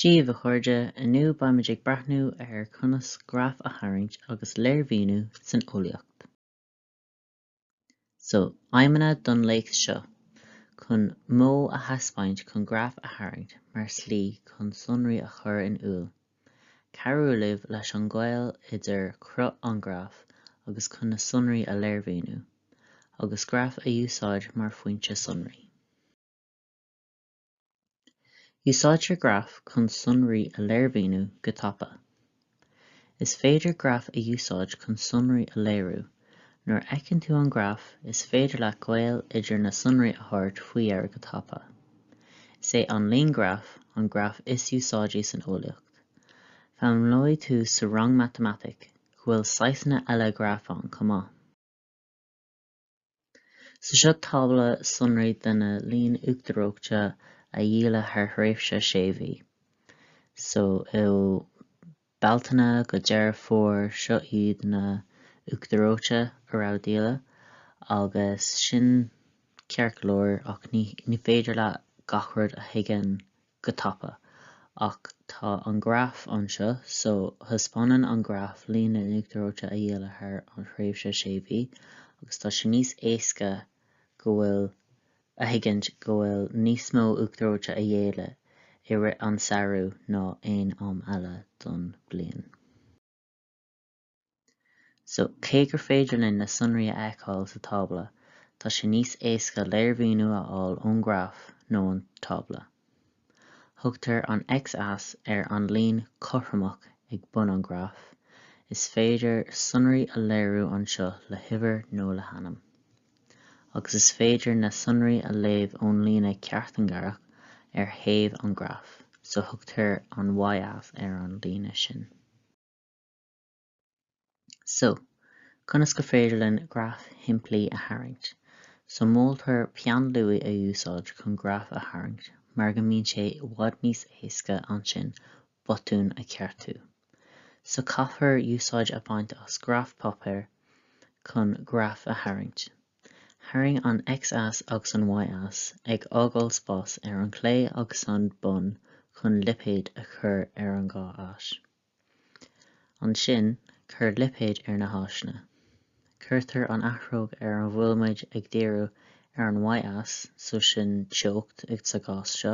Dia daoibh a chairde, inniu beimid ag breathnú ar conas graf a tharraingt agus léirmhíniú san eolaíocht. So, aidhmeanna don léacht seo, Chun modh a thaispeáint chun graif a tharraingt mar shlí chun sonraí a chur in iúl, cabhrú libh leis an ngaol idir cruth an ghraif agus chun na sonraí a léirmhíniú, agus graif a úsáid mar fhoinse sonraí. Úsáidtear graif chun sonraí a léirmhíniú go tapa. Is féidir graif a úsáid chun sonraí a léiriú. Nuair a fheiceann tú an graf, is féidir leat gaol idir na sonraí a thabhairt faoi dheara go tapa. Is é an líon graf an graf is úsáidí san eolaíocht. Foghlaimeoidh tú sa rang matamaitic go bhfuil saghsanna eile graf ann chomh maith. So seo tábla sonraí de na líon uachtar reoite a dhíoladh thar thréimhse sé mhí, so ó Bealtaine go Deireadh Fómhair, seo iad na uachtar reoite a raibh díoladh, agus sin ceart go leor ach ní féidir leat gach rud a thuigeann go tapa, ach tá an graf anseo, so thaispeánann an graf líon na n-uachtar reoite a dhíoladh thar an thréimhse sé mhí, agus tá sé níos éasca go bhfuil a thuigint go bhfuil níos mó uachtar reoite a dhíoladh i rith an samhradh ná aon am eile don bliain. So, cé gur féidir linn na sonraí a fheiceáil sa tábla, tá sé níos éasca léirmhíniú a fháil ón ngraf ná ón tábla. Thugtar an x-ais ar an líon cothromach ag bun an ghraif, is féidir sonraí a léiriú anseo le huimhir nó le hainm. Agus is féidir na sonraí a léamh ón líne ceartingearach ar thaobh an ghraif, so thugtar an y-ais ar an líne sin. So, conas gur féidir linn graf shimplí a tharraingt? So, moltar peann luaidh a úsáid chun graf a tharraingt mar go mbíonn sé i bhfad níos éasca ansin botún a cheartú. So, caithfear úsáid a bhaint as graf páipéar chun graif a tharraingt. Tharraing an x-ais agus an y-ais, ag fhágáil spás ar an clé agus an bun chun lipéid a chur ar an dhá ais. Ansin, cuir lipéid ar na háiseanna. Cuirtear an athróg ar an bhfuil muid ag díriú ar an Y-ais, so sin teocht ag sa gcás seo,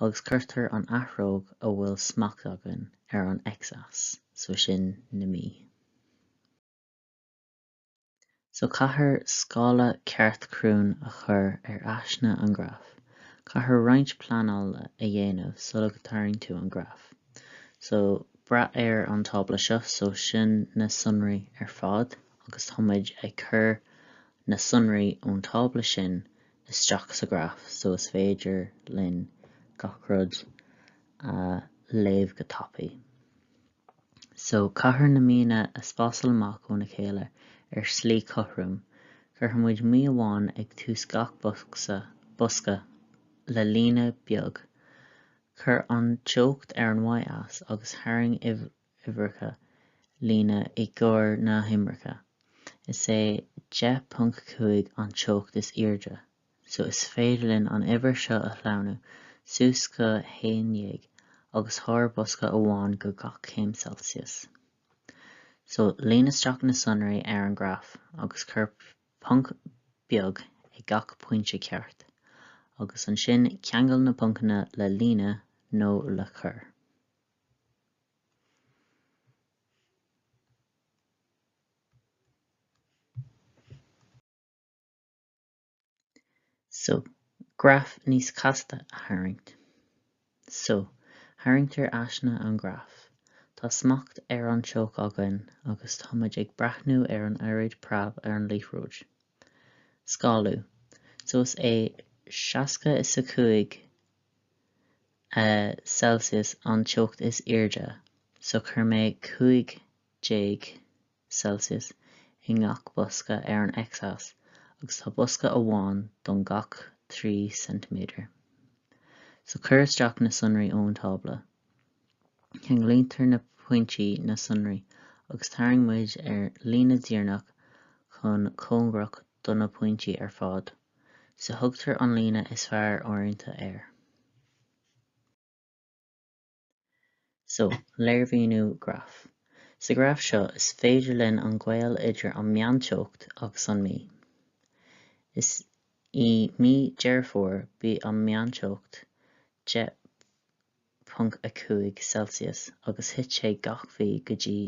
agus cuirtear an athróg a bhfuil smacht againn ar an X-ais, so sin na mí. So caithfear scála ceart cruinn a chur ar aiseanna an graif. Caithfear roinnt pleanála a dhéanamh sula dtarraing tú an graf. So, breathnaigh ar an tábla seo, so sin na sonraí ar fad agus tá muid ag cur na sonraí ón tábla sin isteach sa graf so is féidir linn gach rud a léamh go tapaidh. So, caithfear na míonna a spásáil amach óna chéile ar shlí cothrom. Cuirfimid mí amháin ag tús gach bosca le líne beag. Cuir an teocht ar an Y-ais agus tharraing uimhreacha líne i gcomhair na huimhreacha. Is é 10.5 an teocht is airde. so is féidir linn an uimhir seo a shlánú suas go haon dhéag agus tabhair bosca amháin go gach céim Celsius. So líon isteach na sonraí ar an graf agus cuir ponc beag ag gach pointe ceart, agus ansin ceangail na poncanna le líne nó le cuar. so, graf níos casta a tharraingt. So, tharraingtear aiseanna an graif. Tá smacht ar an teocht againn agus tá muid ag breathnú ar an oiread preab ar an liathróid. Scálú. So is é seasca a cúig Celsius an teocht is airde, so chuir mé cúig degré Celsius i ngach bosca ar an x-ais agus tá bosca amháin don gach trí ceintiméadar. So cuir isteach na sonraí ón tábla, ceanglaítear na pointí na sonraí agus tarraing muid líne díreach chomh cóngarach do na pointí ar fad, so tugtar an líne is fearr oiriúint air. So, léirmhíniú graif. Sa graf seo, is féidir linn an gaol idir an meánteocht agus an mí. Is i mí Deireadh Fómhair bhí an meánteocht 10.5 Celsius agus thit sé gach mhí go dtí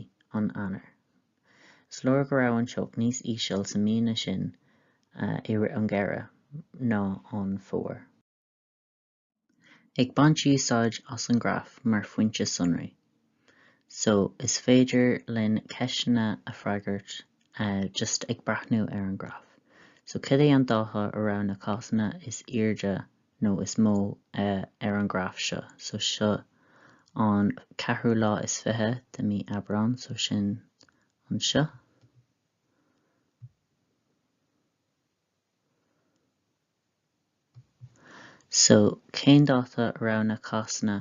an Eanáir. Is léir go raibh an teocht níos íseal sa míonna sin an geimhreadh ná an fómhar. ag baint úsáid as an ghraf mar fhoinse sonraí so is féidir linn ceisteanna a freagairt just ag breathnú ar an ghraf. So cad é an dáta a raibh na cásanna is airde nó is mó ar an ghraf seo so seo an ceathrú lá is fiche de mí Aibreán so sin anseo. So, cén dáta a raibh na cásanna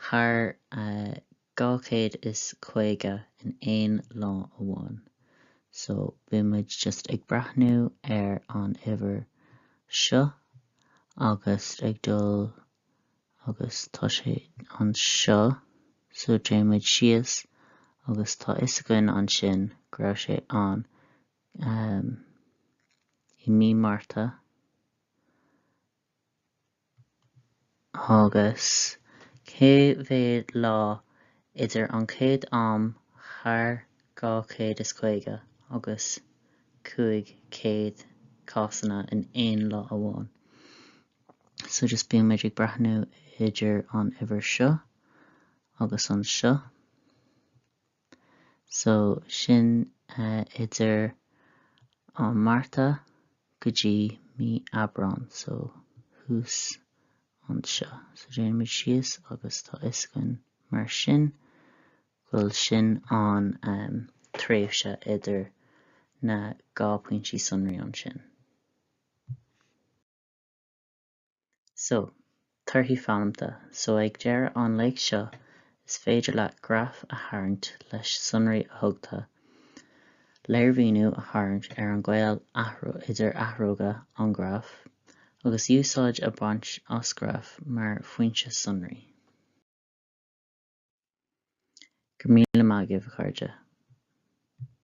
thar 250 in aon lá amháin? So, bímid just ag breathnú ar an uimhir seo agus ag dul agus tá sé anseo, so, téann muid síos agus tá fhios againn ansin go raibh sé ann I mí Márta agus cé mhéad lá idir an chéad am thar 250 agus 500 cásanna in aon lá amháin, so just bímid ag breathnú idir an uimhir seo agus anseo. so sin idir an Márta go dtí mí Aibreán so thuas anseo so déanaimid síos agus tá fhios againn mar sin bhfuil sin an tréimhse idir na dhá pointí sonraí ansin. So, torthaí foghlamta. So ag deireadh an léacht seo is féidir leat graf a tharraingt leis sonraí a thugtha, léirmhíniú a tharraingt ar an gaol idir athróga an ghraif, agus úsáid a bhaint as ghraf mar fhoinse sonraí. Go míle maith agaibh a chairde.